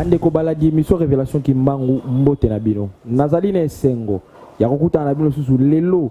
bandeko balandi emission révélation kimbangu mbote na bino nazali na esengo ya kokutana na bino lisusu lelo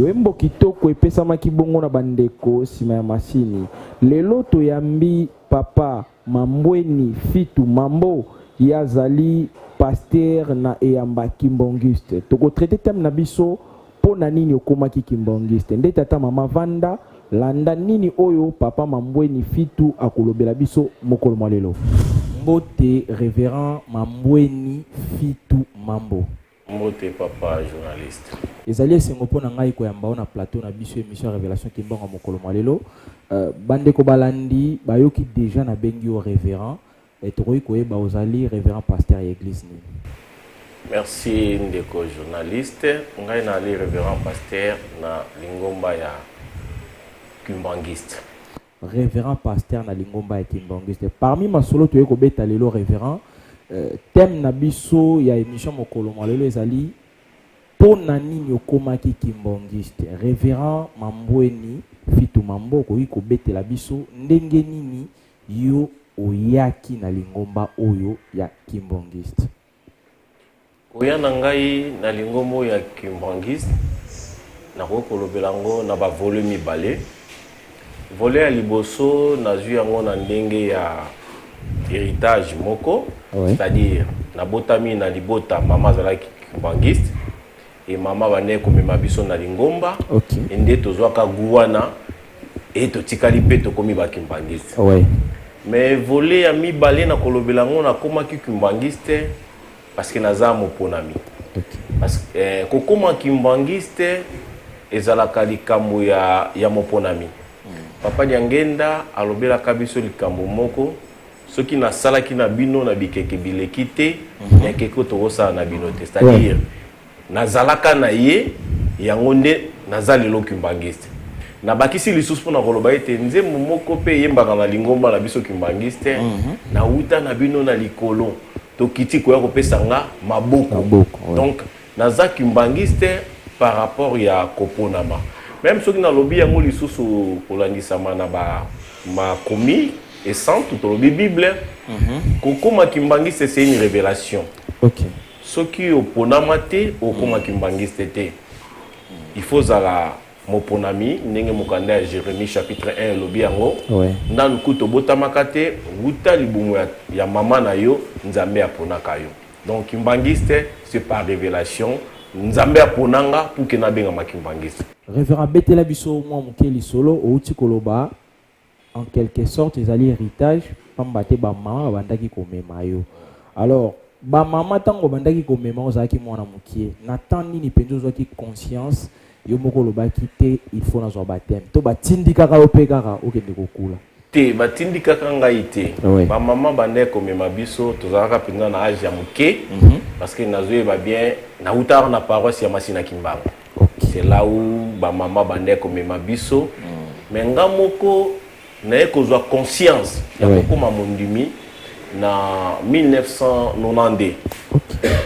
Loyembo kitoko epesamaki bongo na bandeko nsima ya masini. Lelo toyambi papa Mambweni Fitu Mambo ye azali pastere na eyamba Kimbonguiste. Tokotraite teme na biso Mpo na nini okomaki kimbangiste? Nde tata mama vanda landa nini oyo papa Mambweni Fitu akolobela biso mokolo mwa lelo. Mbote reverend Mambweni Fitu Mambo. Mbote papa journaliste. Ezali esengo mpo na ngai koyamba yo na plateau na biso emission ya Revelation Kimbangu ya mokolo mwa lelo. Euh, bandeko balandi bayoki deja nabengi yo reverend Mais tokoki koyeba ozali reverend pasteur ya eglise nini? Merci ndeko journaliste, ngai naali reverend pasteur na lingomba ya Kimbanguiste. Reverend pasteur na lingomba ya Kimbanguiste. Parmi masolo toye kobeta lelo reverend, euh, thème na biso ya émission mokolo mwa lelo ezali mpo na nini okomaki Kimbanguiste? Reverend Mambweni Fitu Mambo okoki kobetela biso ndenge nini Yo oyaki na lingomba oyo ya Kimbanguiste? Koya na ngai na lingomba oyo ya Kimbanguiste, nakoki kolobela yango na ba volets mibale. Volet ya liboso nazwi yango na ndenge ya heritage moko, c'est-à-dire nabotami na libota mama azalaki Kimbanguiste, et maman bandaki komema biso na lingomba okay. et nde tozwaka gout wana et totikali mpe tokomi bakimbangiste ouais. mais volet ya mibale na kolobela yango nakomaki kimbangiste parce que naza moponami okay. parce que eh, kokoma kimbangiste ezalaka likambo ya, ya moponami mm. papa diangenda alobelaka biso likambo moko soki nasalaki na bino na bikeke bileki te mhm. ya keke tokosala na bino te c'est-à-dire nazalaka na ye yango nde naza lelo kimbangiste nabakisi lisusu mpo na koloba ete nzembo moko mpe eyembaka na lingomba na biso kimbangiste mhm. nauta na bino na likolo tokiti koya kopesa nga maboko donc Naza kimbanguiste par rapport ya koponama meme soki nalobi yango lisusu kolandisama na ba makomi esantu tolobi bible mm -hmm. kokoma kimbanguiste c'est une revelation okay. soki oponama te okoma mm. kimbanguiste te il faut ozala moponami ndenge mokanda ya jérémie chapitre 1 elobi yango ouais. nanu kutu obotamaka te wuta libumu ya, ya mama na yo nzambe aponaka yo Donc kimbanguiste c'est par revelation nzambe apona nga pour que nabengama kimbanguiste. Reverend betela biso mwa moke lisolo outi koloba en quelque sorte ezali héritage pamba te bamama babandaki komema yo alors bamama ntango babandaki komema ozalaki mwana mokie na temps nini mpenza ozwaki conscience Yo moko olobaki te il faut nazwa bapteme to batindikaka yo mpe kaka okende kokula? Te, batindikaka ngai te. Ah oui. Bamama bandaki komema biso, tozalaka mpenza na age ya moke mm -hmm. parce que nazoyeba bien nautaka na paroisse ya Masina Kimbangu okay. c'est là où bamama bandaki komema biso mm. mais nga moko Naye kozwa conscience ya kokoma mondimi na 1992.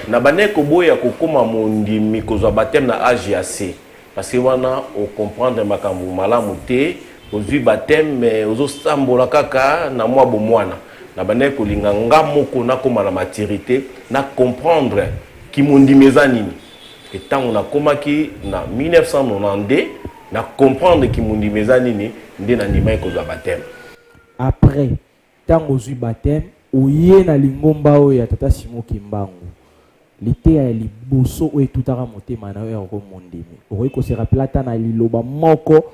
Na bandaki koboya kokoma mondimi, kozwa bapteme na age ya se parce que wana o comprendre makambo malamu te. Ozwi bapteme mais ozo sambola kaka na mwa bomwana. Na bandaki kolinga nga moko nakoma na maturite, na comprendre kimondimi eza nini. Et tango nakomaki na 1992. Na comprendre ki mondimi eza nini nde na ndimaki kozwa bapteme. Après tango ozwi bapteme oye na lingomba oyo ya tata Simon Kimbangu, liteya ya liboso oyo etutaka motema na yo yango mondimi. Okoki ko se rappeler ata na liloba moko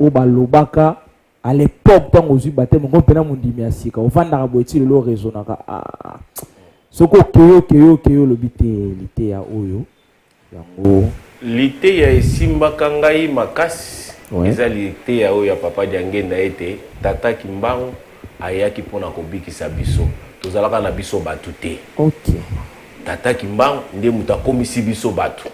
oyo balobaka A l'epoque tango ozwi bapteme ngo mpena mondimi ya sika ofandaka boye ti lelo oresonaka ah, soki okeyi okeyi okeyi olobi te liteya oyo yango liteya esimbaka ngai makasi ouais. eza liteya oyo ya papa diangenda ete tata kimbangu ayaki mpo na kobikisa biso tozalaka na biso bato te okay. tata kimbangu nde moto akomisi biso bato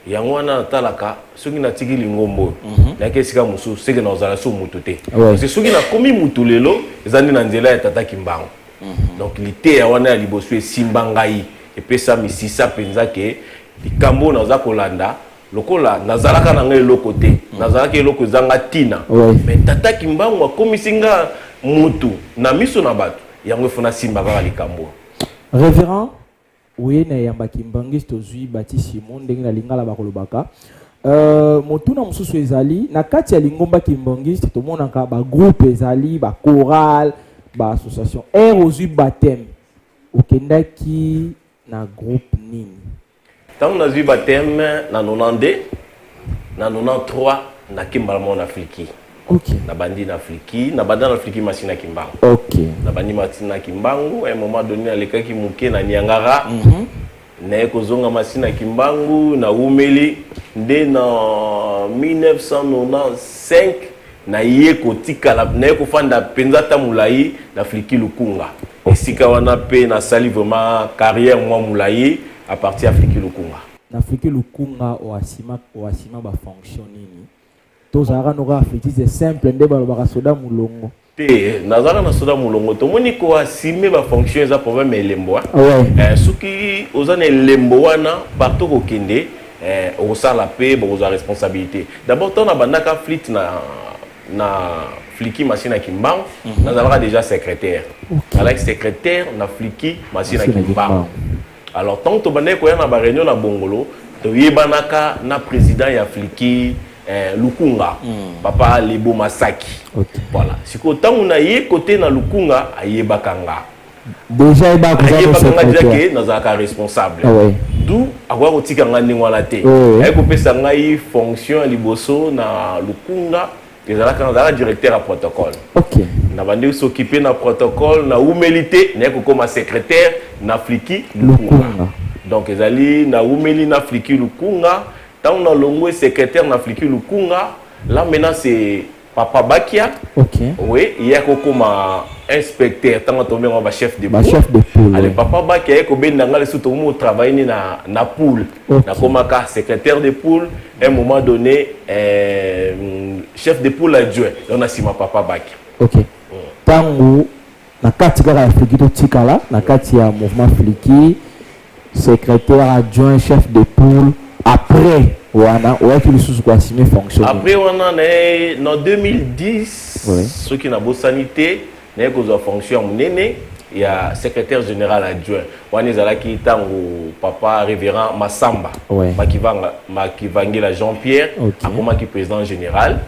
yango wana natalaka soki natiki lingomba oyo mhm. nayaki esika mosusu seke nakozala so motu te parce soki nakomi motu lelo eza nde na nzela ya tata kimbango mhm. donc liteya wana ya liboso esimba ngai epesa misisa mpenza ke likambo oyo naza kolanda lokola nazalaka na ngai eloko te mhm. nazalaka eloko ezanga ntina me tata kimbango akomisi nga motu na miso na bato yango efona simba kaka likambo reverend Oye na yamba kimbangiste ozui batisimo ndenge na lingala bakolobaka Euh, motuna mosusu ezali na kati ya lingomba kimbangiste tomonaka bagroupe ezali bachoral baassociation aire ozwi bateme okendaki na groupe nini ntango nazwi bateme na 92 na 93 nakimba mona afriki Okay. nabandi na fliki nabanda na fliki masi na kimbangu okay. nabandi masi na kimbangu un moment donné nalekaki moke na niangara mm -hmm. naye kozonga masi na kimbangu naumeli nde na 1995 naye kotikala naye kofanda mpenza ata molai na fliki lukunga okay. esika wana mpe nasali vraiment carrière mwa molai à partir ya fliki lukunga na fliki lukunga oasima bafonction nini tozalaka noka afetise simple nde balobaka soda mulongo te nazalaka na soda mulongo tomoni koasime bafonction eza problème ya elembo ah eh, soki oza na elembo wana partout kokende eh, okosala mpe bokozwa responsabilité d'abord ntango nabandaka flite na na fliki masi na kimbangu mhm. nazalaka déjà secrétaire alaki secrétaire na fliki masi na kimbangu Alors tango tobandaki koya na ba reunion na Bongolo, toyebanaka na president ya Fliki eh, Lukunga mm. papa Lebo Masaki okay. Voilà sikoyo ntango naye kote na Lukunga ayebaka nga déjà ayebaka nga déjà ke nazalaka responsable ah, ouais. du akoya kotika nga ndenge wana te oh, ouais. aye kopesa ngai fonction ya liboso na Lukunga ezalaka nazalaka directeur ya protocole okay. nabandi kosokipe na protocole na umeli te naye kokoma secrétaire na fliki lukunga donc ezali na umeli na fliki lukunga ntango nalongwe secrétaire na fliki lukunga là maintenant c'est papa bakia okay. oui ye akokoma inspecteur ntango atomi yango bachef de chef de poule ale papa bakia ye kobenda ngai lisusu tokomi kotravaille ni na, na poule okay. nakomaka secrétaire de poule un moment donné euh, chef de poule adjoint donc na nsima papa baki ok ntango na kati kaka ya fliki totikala na kati ya mouvement fliki secrétaire adjoint chef de poule après wana oyaki lisusu koassume fonction après wana na 2010 oui. soki nabosani te naye kozwa fonction ya monene ya secrétaire général adjoint wana ezalaki ntango papa révérend masamba ouais. makivanga makivangila jean pierre okay. akomaki président général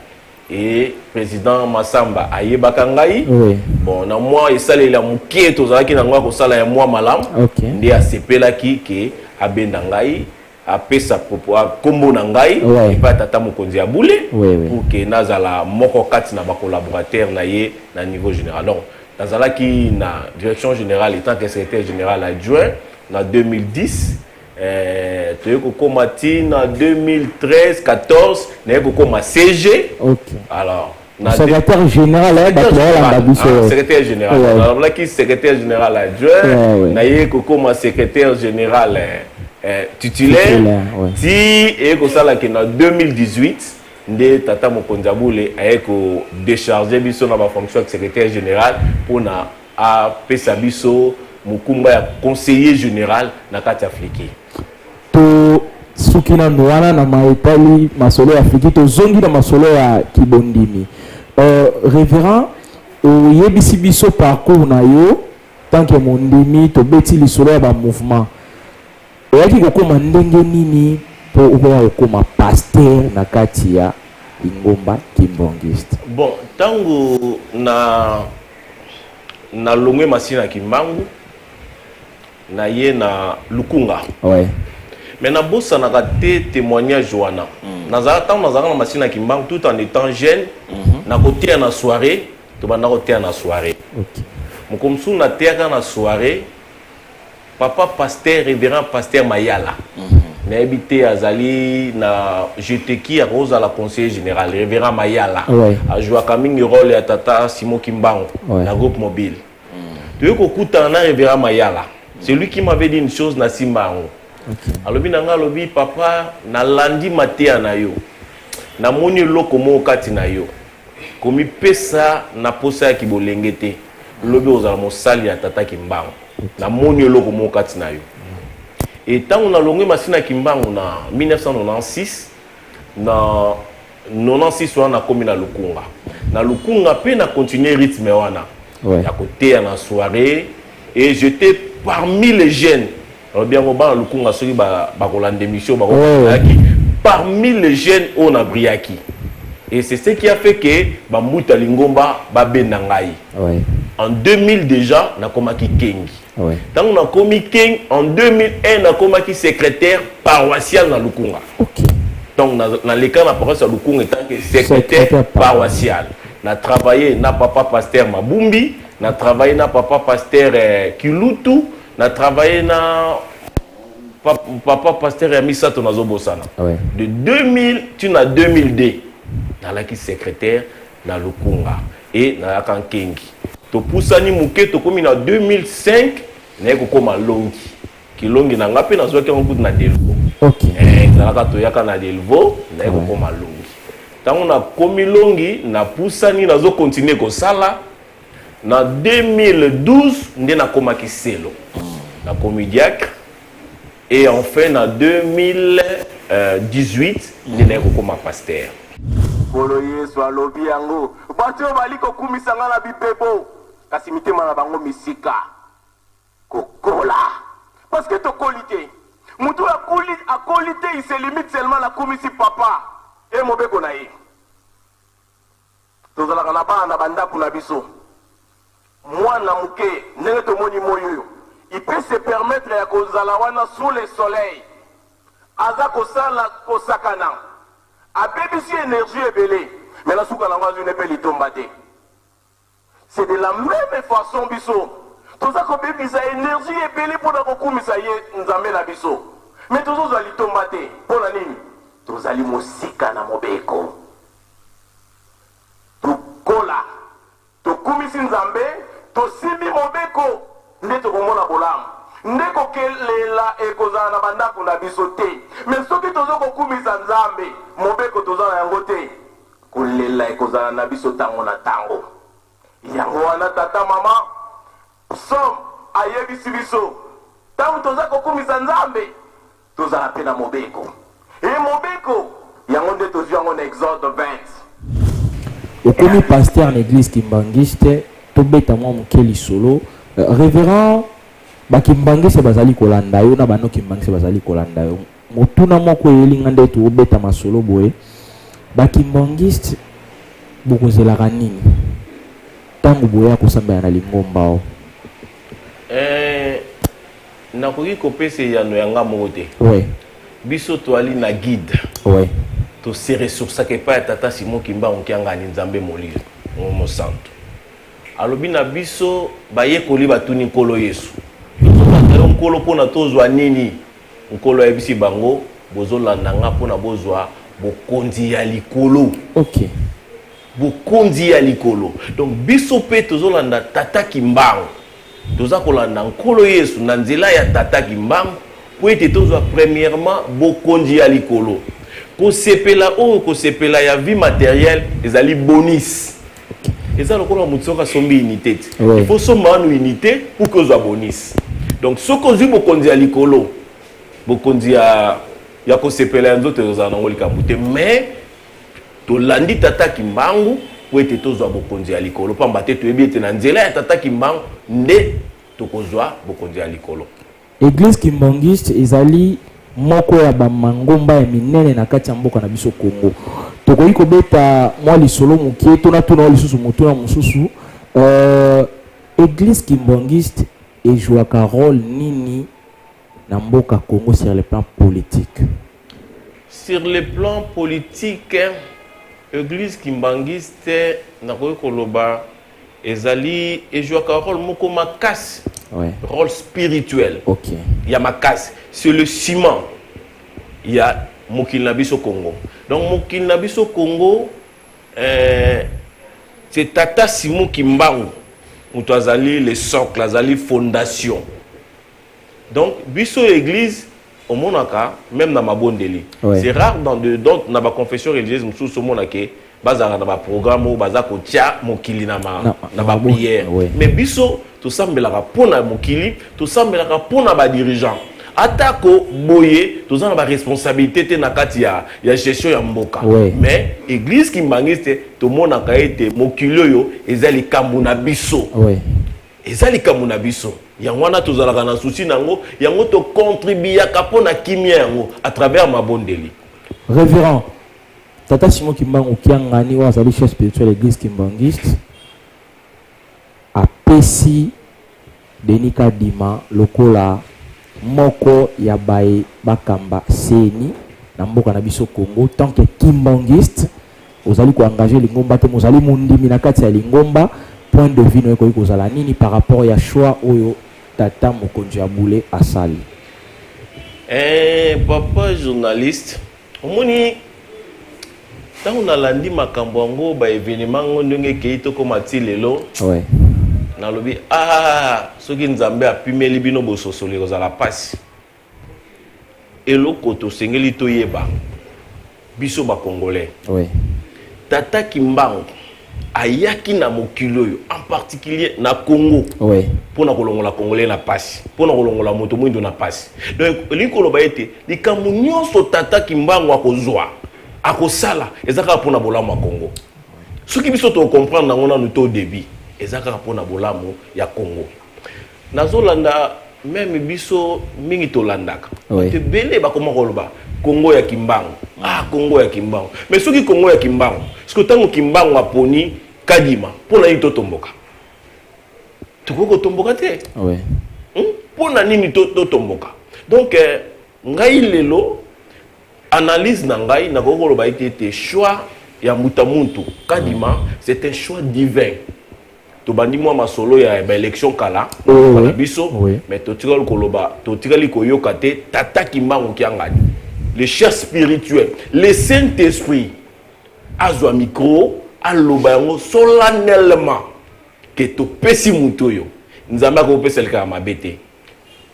e président masamba ayebaka ngai oui. bon na mwa esaleli ya moke tozalaki na yango ya kosala ya mwa malamu okay. nde asepelaki ke abenda ngai apesa nkombo na ngai epai ya tata mokonzi ya bule pour ke nazala moko kati na bacolaborateur na ye na niveau général donc nazalaki na direction générale etant que secrétaire général adjoint na 2010 eh, toye kokóma ti na 2013 14 naye kokóma cg okay. alors Na de- secrétaire général ya bato bayalanda biso Ah, secrétaire général Ouais. nalobelaki secrétaire général adjoint Ouais, ouais. naye kokoma secrétaire général eh, eh, titulaire Titulaire, ouais. ti eye kosala ke na 2018 nde tata mokonzi ya bule aye kodécharge biso na bafonction ya secrétaire général mpona A pesa biso mokumba ya conseiller general na kati ya Fliki. To suki na nuana na maitali masolo ya Fliki, to zongi na masolo ya kibondimi. Euh, Reverend, oyebisi biso parcours na yo tant que mondimi, to beti lisolo ya ba mouvement. Oyaki kokoma ndenge nini po okoya kokoma pasteur na kati ya lingomba kimbongiste? Bon, tango na na longwe masina kimbangu na ye na lukunga ouais. mais nabosanaka te témoignage wana mm. nazalaka ntango nazalaka na masina kimbangu tout en étant jeune mm -hmm. nakoteya na soirée tobanda koteya na soirée okay. mokolo mosusu nateyaka na soirée Papa pasteur reverend pasteur mayala nayebi te azali na jeteki akoki kozala conseiller général reverend mayala Ouais. ajouaka mingi role ya tata simo kimbangu Ouais. na groupe mobile toyei kokutana na reverend mayala c'est lui qui m'avait dit une chose nasimba yango alobi na ngai alobi papa nalandi mateya na yo namoni eloko moko kati na yo komipesa na posa ya kibolenge te lobi ozala mosali ya tata kimbangu namoni eloko moko kati na yo e ntango nalongwe masini ya kimbangu na 1996 na 96 wana nakomi na lukunga na lukunga mpe na continue rythme wana ouais. ya koteya na soirée et j'étais parmi les jeunes Olobi yango bana lukunga soki bakolanda emission bakoyaki parmi les jeunes oyo na brillaki et c'est ce qui a fait que bambuta lingomba babenda ngai oui. en 2000 déjà nakomaki kengi oui. ntango nakomi kengi en 2001 nakomaki secrétaire paroissial na lukunga okay. donc naleka na, na paroisse ya lukunga etanke secrétaire paroissial na travaille na papa pasteur mabumbi na travaille na papa pasteur eh, kilutu Na travailler na papa pasteur ya misato nazobosana ouais. de 2000 tu na 2002 nalaki secrétaire na lukunga e nayaka nkengi topusani moke tokomi na 2005 naye kokoma longi kilongi na ngai mpe nazwaki yango kutu na delvo okay. eh, ezalaka toyaka na delvo naye kokoma longi ntango nakomi longi napusani nazokontinue kosala Na 2012 nde nakomaki selo, nakomi diacre et enfin na 2018 nde naye kokoma pasteur. Nkolo Yesu alobi yango. Bato oyo bali kokumisa ngai na bipepo, kasi mitema na bango misika kokola. Parce que tokoli te. Moto oyo akoli, akoli te, il se limite seulement na kumisi papa et mobeko na ye. Tozalaka na bana na bandako na biso. Mwana muke, ndenge tomoni moyi oyo, il peut se permettre ya kozala wana sous le soleil, aza kosala, kosakana, abebisi energie ebele, mais na suka na yango azwi ne pe litomba te. C'est de la meme façon biso toza kobebisa energie ebele pona kokumisa ye Nzambe na biso mais tozozwa litomba te. Pona nini? Tozali mosika na mobeko. Tokola, tokumisi Nzambe, tosimbi mobeko nde tokomona bolamu. Nde kokelela ekozala na bandako na biso te. Mais soki tozo kokumisa Nzambe, mobeko toza na yango te. Kolela ekozala na biso tango na tango. Yango wana tata, mama, psaume ayebisi biso, tango toza kokumisa Nzambe, tozala mpe na mobeko. Et mobeko, yango nde tozwi yango na Exode 20. Okomi pasteur na eglise kimbanguiste, tobeta mwa moke lisolo. Reverend, ba kimbanguiste bazali kolanda yo na ba non kimbanguiste bazali kolanda yo. Motuna moko eyeli nga nde to beta masolo boye ba kimbanguiste bokozelaka nini tango boya kosambela na lingomba oyo? Eeh nakoki kopesa eyano ya nga moko te. Oui. Biso toali na guide. Oui. To se ressourcaka epai ya tata Simon kimbangu kiangani nzambe molili mosantu alobi na biso bayekoli batuni nkolo yesu tozo bata yo nkolo pona tozwa nini? Nkolo ayebisi bango, Bozolanda ngai mpo na bozwa bokonzi ya likolo. Okay. Bokonzi ya likolo. Donc biso mpe tozolanda Tata Kimbangu. Toza kolanda Nkolo Yesu na nzela ya Tata Kimbangu mpo ete tozwa premièrement bokonzi ya likolo. Kosepela oyo kosepela ya vie matérielle ezali bonus. eza lokola moto soki asombi unité te il faut somba wana unité pour que ozwa bonus donc soki ozwi bokonzi ya likolo bokonzi ya ya kosepela ya nzoto ezozala nango likambo te mais tolandi tata kimbangu mpo ete tozwa bokonzi ya likolo mpamba te toyebi ete na nzela ya tata kimbangu nde tokozwa bokonzi ya likolo Eglise kimbangiste ezali moko ya ba mangomba ya minene na kati ya mboka na biso Congo. Tokoki kobeta mwa lisolo mokie to natuna yo lisusu motuna mosusu euh, eglise kimbangiste ejouaka role nini na mboka Congo sur le plan politique? Sur le plan politique, eglise kimbangiste nakoki koloba ezali ejouaka role moko makasi ouais. role spirituel okay. ya makasi c'est le ciment ya mokili na biso congo donc mokili na biso congo euh, c'est tata simon kimbangu moto azali le socle azali fondation donc biso église omonaka meme na mabondeli c'est rare dans de dans na ba confession religieuse mosusu omona ke bazalaka na baprogramme oyo baza kotya mokili na baprière mais biso tosambelaka mpo na mokili tosambelaka mpo na badirigeant atako boye toza na baresponsabilité te na kati ya, ya gestion ya mboka oui. mais église kimbangiste tomonaka ete mokili oyo eza likambo na biso oui. eza likambo na biso yango wana tozalaka na souci na yango yango tocontribuyaka mpo na kimia yango à travers mabondeli révérend tata simon kimbangu kiangani oyo azali chef spirituel ya église kimbanguiste apesi denis kadima lokola moko ya baye bakamba seni na mboka na biso congo tant que kimbanguiste Ozali ko engager lingomba te mais ozali mondimi na kati ya lingomba, point de vue na yo ekoki kozala nini par rapport ya choix oyo tata mokonzi ya bule asali? Eeh papa journaliste omoni ntango nalandi makambo yango ba evenement yango ndenge ekei tokoma ti lelo ouais. nalobi ah soki nzambe apimeli bino bososoli ekozala mpasi Eloko tosengeli toyeba biso ba congolais. Oui. Tata Kimbangu ayaki na mokili oyo en particulier na Congo. Oui. Pona kolongola congolais na pasi, pona kolongola moto mwindo na pasi. Donc elingi koloba ete likambo nyonso tata Kimbangu akozwa akosala eza kaka pona bolamu ya Congo. Soki biso to comprendre nango nanu to debut eza kaka pona bolamu ya Congo. nazolanda meme biso mingi tolandaka oui. ebele bakoma koloba kongo ya kimbangu ah kongo ya kimbangu mais soki kongo ya kimbangu soki ntango kimbangu aponi kadima mpo na nini totomboka tokoki kotomboka te oui. hmm? mpo na nini totomboka donc eh, ngai lelo analyse na ngai nakoki koloba ete ete choix ya mbuta muntu kadima c'est un choix divin tobandi mwa masolo ya baélection kala mboka na biso mais totikali koloba totikali koyoka te tata kimbangu kiangani le chef spirituel le saint esprit azwa micro aloba yango solennellement ke topesi moto oyo nzambe akopesa likaka mabe te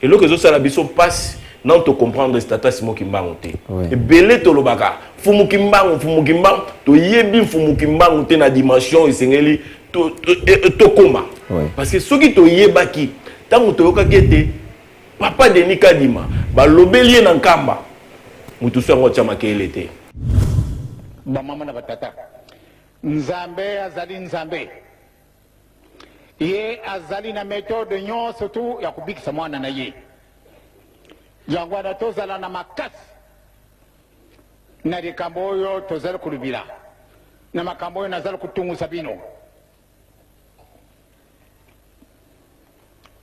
eloko ezosala biso mpasi nano tocomprendre stata simo kimbangu te ebele tolobaka mfumu kimbangu mfumu kimbangu toyebi mfumu kimbangu te na dimension esengeli tokoma e, e, parce que soki toyebaki ntango toyokaki ete papa denis kadima balobeli ye na nkamba moto so yango atya makele te bamama na batata nzambe azali nzambe Ye azali na methode nyonso tu ya kobikisa mwana na ye. Yango wana tozala na makasi na likambo oyo tozali kolobela, na makambo oyo nazali kotungusa bino.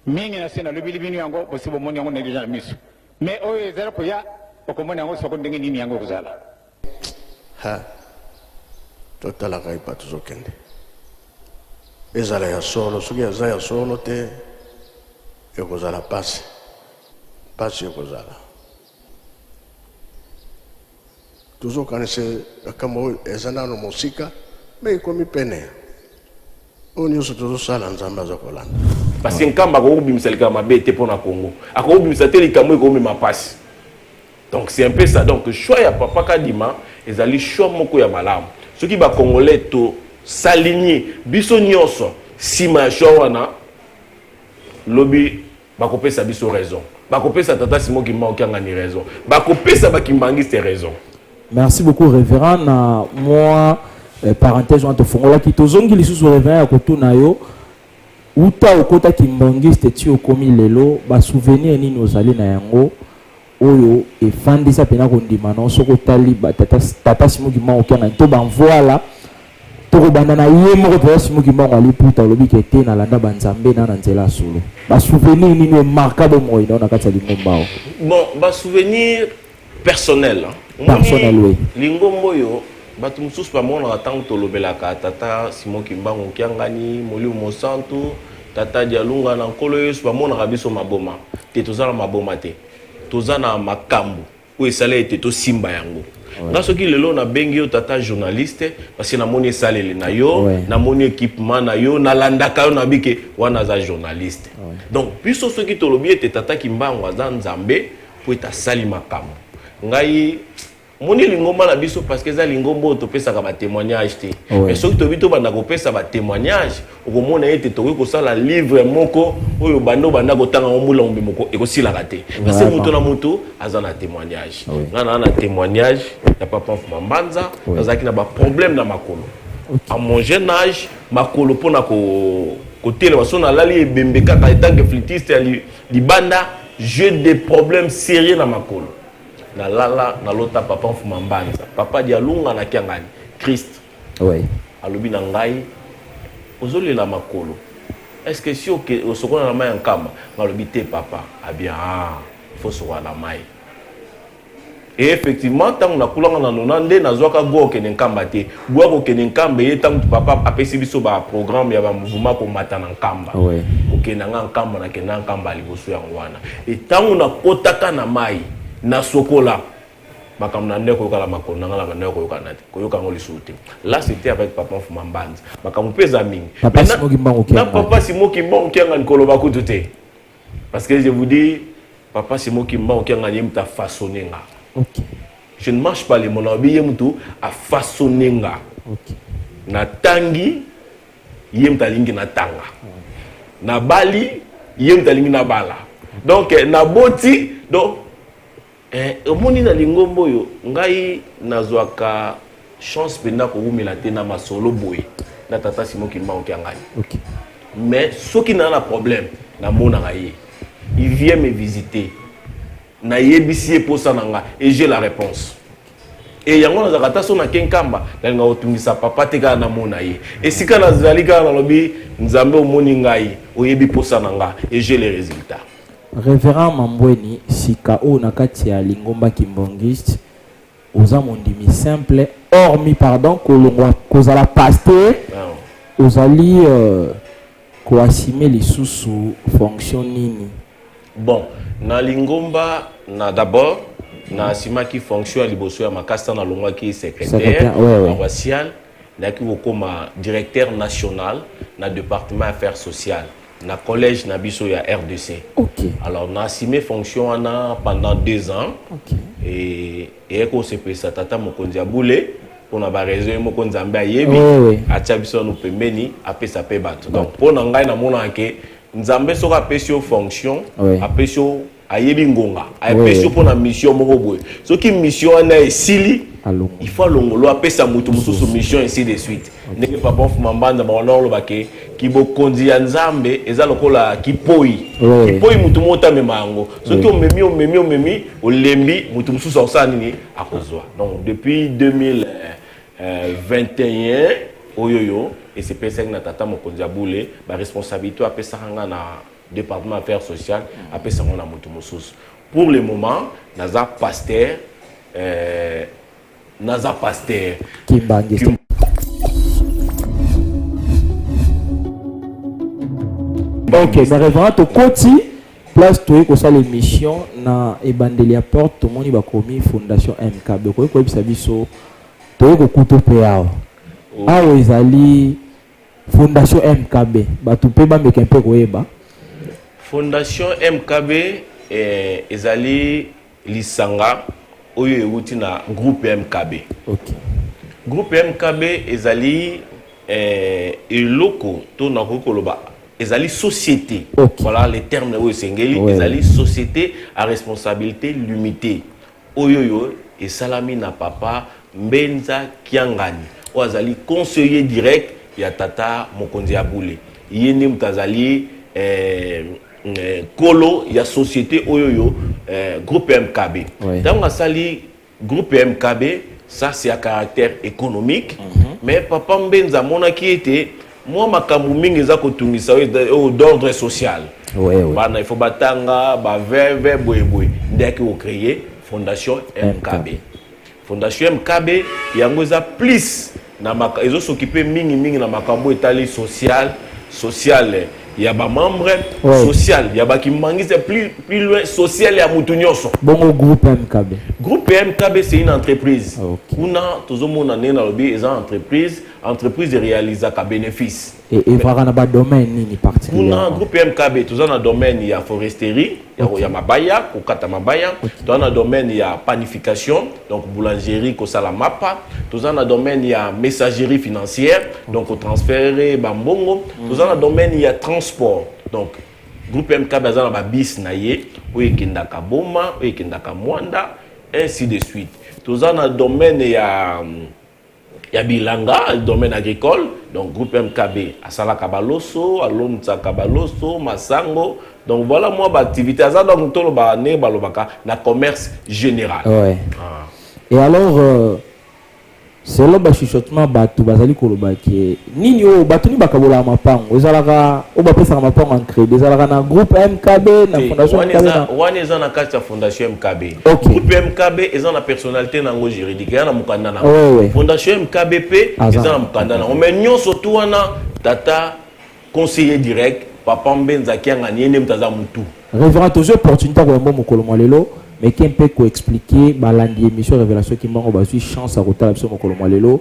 Mingi nasi nalobeli bino yango, bosi bomoni yango na deja na misu, mais oyo ezali koya bokomona yango soko ndenge nini yango ekozala. Ha! Totalaka epa tozokende. Ezala ya solo, soki eza ya solo te, ekozala pasi. Pasi ekozala. tozokanisa makambo oyo eza nano mosika me ekomi pene oyo nyonso tozosala nzambe aza kolanda parce nkamba akoki kobimisa likambo mabe te mpo na congo akoki kobimisa te likambo ekomema mpasi donc c'est un peu ça donc choix ya papa kadima ezali choix moko ya malamu soki bacongolais tosalinie biso nyonso nsima ya choix wana lobi Bakopesa biso raison. Bakopesa tata Simon Kimbangu Kiangani raison. Bakopesa ba Kimbanguiste raison. Merci beaucoup révérend na moi eh, parenthèse wana tofungolaki tozongi lisusu révérend ya kotuna yo uta okota kimbangiste ti okomi lelo basouvenir nini ozali na yango oyo efandisa pena kondima no soki otali tata simo kimbangu kiangani to banvuala tokobanda na ye moko tata simo kimbangu aliputa olobi ke te nalanda banzambe na na nzela ya solo basouvenir nini omarka bomoi nao na kati ya lingomba o bon basouvenir personnel personnel oui lingomba oyo bato mosusu bamonaka ntango tolobelaka tata simo kimbangu kiangani molimo mosantu Tata dialunga na nkolo yesu bamonaka biso maboma te toza na maboma te toza na makambo oyo esala ete tosimba yango nga soki lelo nabengi yo tata journaliste parce que namoni esaleli na yo namoni équipement na yo nalandaka yo nabi ke wana aza journaliste donc biso soki tolobi ete tata kimbangu aza nzambe mpo ete asali makambo ngai omoni lingomba na biso parce que eza lingomba oyo topesaka batémoignage te mais soki toyebi tobanda kopesa batémoignage okomona ete tokoki kosala livre moko oyo banda obanda kotanga yango mbula mobimba ekosilaka te parce moto na moto aza na témoignage nga naa na témoignage ya papa mfuma mbanza nazalaki na baproblème na makolo à mon jeune âge makolo mpo na kotelema so nalali ebembe kaka etanke flitiste ya libanda j'ai des problèmes sérieux na makolo Na lala na lota papa mfuma mbanza papa dialunga na kiangani christ oui. alobi na ngai ozolela makolo est ce que si oke osokola na mai ya nkama ngalobi te papa abia ah, ah, il faut sokola na mai e effectivement ntango nakulanga na nona nde nazwaka go okende nkamba te Boa kokende nkamba eye ntango papa apesi biso ba programme ya ba mouvement komata na nkamba Oui. kokenda nga nkamba nakenda nkamba ya liboso yango wana e ntango nakotaka na mai nasokola makambo na ndeko yokala makolo na nga na bandeko koyokana te koyoka yango lisusu te là c'était avec papa mfuma mbanzi makambo mpe eza mingi Papa Mais na- Simo Kimbangu na Kiangani. papa simo kimbangu kiangani koloba kutu te Parce que je vous dis, papa c'est moi qui m'a aucun gagné, m'a façonné nga. Ok. Je ne marche pas les mon abi yem tout a façonné nga. Ok. Na tangi yem ta lingi na tanga. Na bali yem ta lingi na bala. Donc na boti donc Eh omoni na lingomba oyo ngai nazwaka chance mpenza kowumela te na masolo boye na tata Simon Kimbangu Kiangani. Okay. Mais soki naa na problème namonaka ye. Il vient me visiter. Nayebisi ye mposa na nga et j'ai la réponse. Et yango nazalaka ata so na kenkamba nalinga kotungisa papa te kaka namona ye. Esika nazali kaka nalobi Nzambe omoni ngai, oyebi mposa na nga et j'ai les résultats. Reverend Mambweni, sika oyo na kati ya lingomba kimbongiste, oza mondimi simple, hormis pardon kolongwa kozala pasteur, ozali euh, koasime lisusu fonction nini? Bon, na lingomba na d'abord na asimaki fonction ya liboso ya makasa na longwaki secrétaire paroissial nayaki kokoma directeur national na département affaires sociales na collège na biso ya rdc okay. alors na assume fonction wana pendant deux ans okay. e, eye kosepelisa tata mokonzi ya bule mpona baraison ye moko nzambe ayebi oh, oui. atya biso yano pembeni apesa mpe bato donc mpo na ngai namonaka ke nzambe soki apesi yo fonction oui. apesi yo ayebi ngonga apesi yo mpo na mission moko boye soki mission wana esili il faut alongolo apesa moto mosusu mission ainsi de suite ndenge papa mfuma mbanza bango na oloba ke kibokonzi ya nzambe eza lokola kipoi kipoi moto moko tamema yango soki omemi omemi omemi olembi moto mosusu akosala nini akozwa donc depuis 2021 euh, oyo yo esepesaki na tata mokonzi ya bule baresponsabilité apesaka ngai na departement affaires sociales apesa yango na moto mosusu pour le moment naza pasteur euh, naza pasteur kimbange ok ba reverend tokoti place toyei kosala émission na ebandeli ya porte tomoni bakomi fondation mkb okoki koyebisa biso toyei kokuta mpe awa oh. awa ezali Fondation MKB batu pe ba meka mpe koyeba. Fondation MKB eh, ezali lisanga oyo ewuti na groupe MKB. Okay. Groupe MKB ezali eh, eloko to nakoki koloba ezali société okay. voilà les termes oyo esengeli oui. ezali société à responsabilité limitée Oyoyo esalami na papa Mbenza Kiangani oyo azali conseiller direct ya tata mokonzi ya bule. Ye nde moto azali eh, eh, kolo ya societe oyoyo eh, groupe MKB. Oui. Ntango asali groupe MKB, ça c'est à caractère économique, mais papa Mbenza amonaki ete mwa makambo mingi eza kotungisa oyo d'ordre social oui, oui. bana il faut batanga baveve boyeboye nde yaki kocreye fondation mkb fondation mkb yango eza plus ezosokipe mingi mingi na makambo etali social sociale ya bamembre ouais. social ya bakimangiste plus, plus loin social ya motu nyonso bongo groupe mkb groupe mkb c'est une entreprise ah, okay. kuna tozomona ndenge nalobi eza entreprise entreprise erealisaka bénéfice e, evaka na badomaine nini particulièrement kuna groupe mkb toza na domaine ya foresterie ya, okay. ya mabaya kokata mabaya okay. toza na domaine ya panification donc boulangerie kosala mapa toza na domaine ya messagerie financière okay. donc kotransfere bambongo mm. toza na domaine ya transport donc groupe mkb aza na babis na ye oyo ekendaka boma oyo ekendaka mwanda ainsi de suite toza na domaine ya ya bilanga domaine agricole donc groupe mkb asalaka baloso alomsaka baloso masango donc voilà mwa baactivité aza donc toloba ndenge balobaka na commerce général ouais. ah. et alors euh, selon bachuchotement bato bazali koloba ke Nini oyo bato nini bakabolaka mapango ezalaka oyo bapesaka mapango en credit ezalaka na groupe MKB na fondation MKB na wana eza na kati ya fondation MKB okay. groupe MKB eza na personnalité na yango juridique eza na mokanda na oui, oui. fondation MKB pe eza na mokanda na yango mais nyonso tu wana tata conseiller direct papa mbenza akianga ni ye nde moto aza motu révérend tozwi opportunité ya koyamba mokolo mwa lelo meke mpe koexplike balandi émission révélation kimbango bazwi chance ya kotala biso mokolo mwa lelo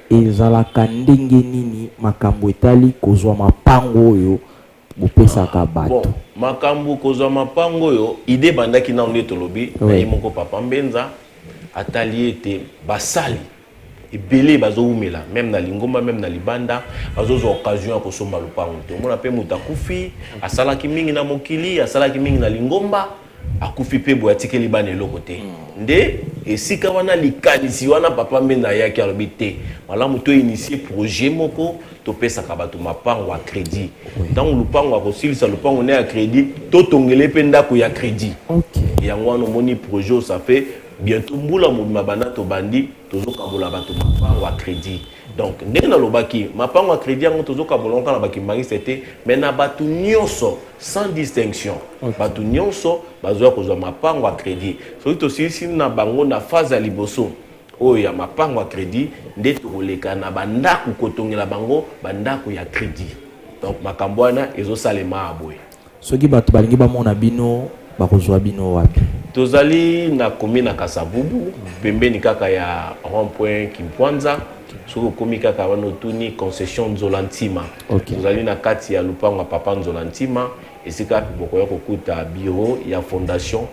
Ezalaka ndenge nini makambo etali kozwa mapango oyo bopesaka bato? Bon makambu kozwa mapango oyo idee ebandaki nanu nde tolobi na ye moko papa mbenza atali ete basali ebele bazo wumela meme na lingomba meme na libanda bazo zwa occasion ya kosomba lopango te omona pe mutu akufi asalaki mingi na mokili asalaki mingi na lingomba akufi pe boye atikeli bana eloko te nde esika wana likanisi wana papa mbenda ayaki alobi te malamu to initie projet moko topesaka bato mapango ya credit ntango lupango akosilisa lupango ne ya credit totongele mpe ndako ya credit yango wana omoni projet osafe bientôt mbula mobima banda tobandi tozokabola bato mapango ya credit Donc, ndenge nalobaki, mapango ya credit yango tozokabola yango kaka na bakimbangisite te, mais na bato nyonso sans distinction. Okay. Bato nyonso bazoya kozwa mapango ya credit. Soki tosilisi na bango na phase ya liboso oyo ya mapango ya credit, nde tokoleka na bandako kotongela bango bandako ya credit. Donc makambo wana ezosalema boye. Soki bato balingi bamona bino bakozwa bino wapi? Tozali na commune ya Kasavubu pembeni kaka ya rond-point Kimpwanza. Soki okomi kaka wana otuni concession Nzola Ntima. Okay. Tozali na kati ya lopango ya Papa Nzola Ntima esika bokoya kokuta bureau ya fondation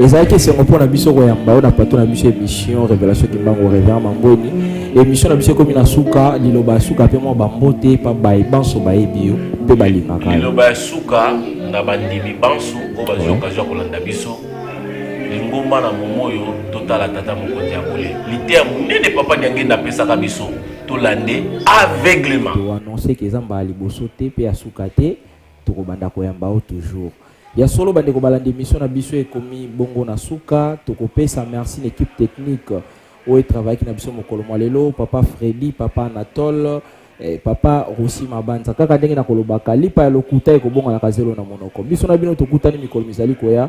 ezalaki esengo mpo na biso koyamba oyo na pato na biso émission révélation kimbangu révérend mangweni émission na biso ekomi na suka liloba ya suka mpe mwa bambote mpa baye banso bayebi yo mpe balingaka liloba ya suka na bandimi banso oyo bazwi okazio ya kolanda biso lingomba na momo oyo totala tata mokonzi ya bole liteya monene papa diangenda apesaka biso tolande aveuglement to annoncer que eza mbala liboso te pe ya suka te tokobanda koyamba o toujours ya solo bandeko balanda émission na biso ekomi bongo na suka tokopesa merci na équipe technique oyo etravayaki na biso mokolo mwa lelo papa fredi papa anatole eh, papa rosi mabanza kaka ndenge nakolobaka lipa ya lokuta ekobonganaka zelo na monoko biso na bino tokutani mikolo mizali koya